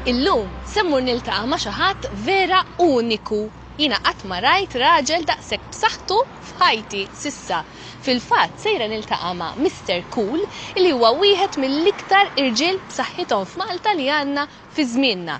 Illum se mmur niltaqa' ma' xi ħadd vera uniku. Jiena qatt ma rajt raġel daqshekk b'saħħtu f'ħajti s'issa. Fil-fatt sejra niltaqa' ma' Mister Cool li huwa wieħed mill-iktar irġiel b'saħħithom f'Malta li għandna fi żmienna.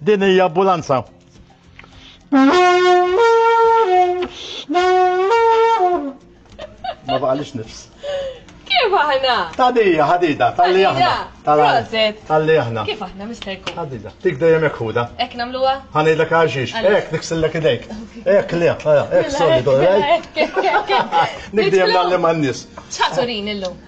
Din hija ambulanza. Ma baqalix nifs. Kif aħna? Tadija, ħadida, tal-li aħna. Proset. Tal-li aħna. Kif aħna, Mr. Kuh? Ħadida. Tik dejjem ek ħuda. Ek namluwa? Ħanidlek għaxix. Ek, niksillek idejk. Ek, li, ek, solidu, ek. Nik dejjem l-għalli man-nis. ċaturin illum.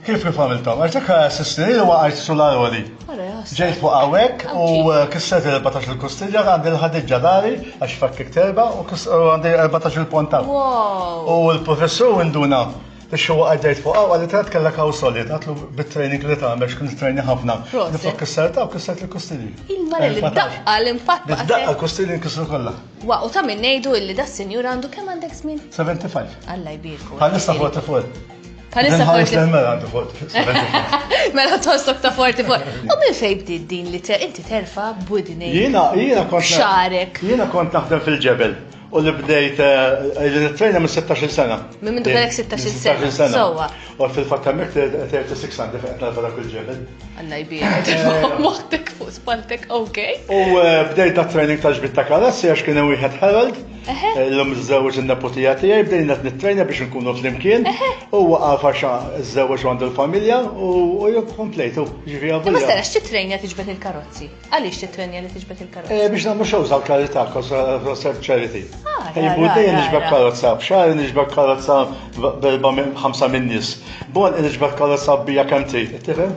Kif kif għamiltom? Għax dik assisti li waqajt sularoli. Ġejt fuq għawek u eh, kisset il-14 il-kustilja għandi l-ħadidġa dari għax fakkik terba u għandi 14 il-ponta. U l-professur induna biex huwa għaddejt fuq għaw għalli trat kellek għaw solid għatlu bit-training li tagħmel xkun training ħafna. Nifok kisserta u kisset il-kustilji. Il-mara li daqqa l-impatt. Daqqa l-kustilji nkisru kollha. Wa u ta' minn ngħidu illi da' sinjur għandu kemm għandek żmien? 75. Alla jbirku. Bħalissa 44. Palissa forti. Mela għandu forti. Mela tħossok ta' forti forti. U minn fejn bdiet din li inti terfa budni. Jiena jiena kont. Xarek. Jiena kont naħdem fil-ġebel. U li bdejt eh, li nitrejna minn 16 sena. Minn minn kellek 16 sena. Sowa. U fil-fatt hemmhekk 36 għandi fejn qed dak il-ġebel. Alla jbierek. Eh. Moħtek fuq spaltek, ok. U eh, bdejt da training ta' ġbit ta' kalassi għax kien hemm wieħed Herald Illum żewġ in-neputija tiegħi bdejna qed nittrejna biex nkunu flimkien. Huwa għafa xa żewġ għandu l-familja u komplejtu ġifi għabu. Ma sarax titrejna tiġbed il-karozzi. Għaliex titrejna li tiġbed il-karozzi? Eh, biex nagħmlu xogħol żaw karità kosar ċariti. Ah, Ejbu dejjem niġbed karozza, b'xar niġbed karozza berba minn ħamsa minn nies. Bon niġbed karozza bija kemm trid, tifhem?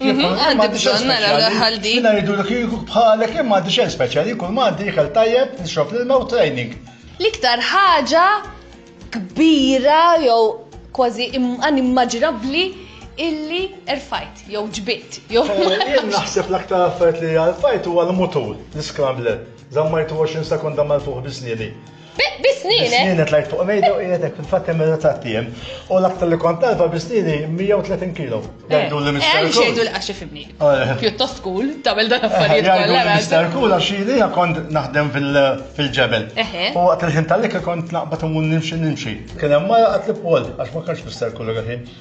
Għandi bżonn nara l-ħal di. Jina jiddu li kieku bħalek imma għandi xejn speċjali, kull ma għandi ikel tajjeb, nixrob l-ilma u training. L-iktar ħaġa kbira jew kważi inimmaġinabbli illi erfajt, jew ġbitt, jew. Eh, jien naħseb l-aktar affarijiet li għalfajt huwa l-mutur, l-scrambler. Zammajtu 20 sekonda mal-fuq bisnieli. Bisninek? Bisninek lajt fuq mejda u qiegħed hekk fil-fatt hemm ir-ritratt tiegħi. U l-aktar li kont narfa bisnieni 130 kilo. Eh, Jgħidu li Mr. Għaliex jgħidu li għax ifimni. Eh. Pjuttost cool, tagħmel dan eh, affarijiet kollha. Mr. Cool għax jili kont naħdem fil-ġebel. U waqt il-ħin tal-lika kont naqbad u nimxi nimxi. Kien hemm mara qatt li Paul għax ma kienx Mr. Cool għaxin.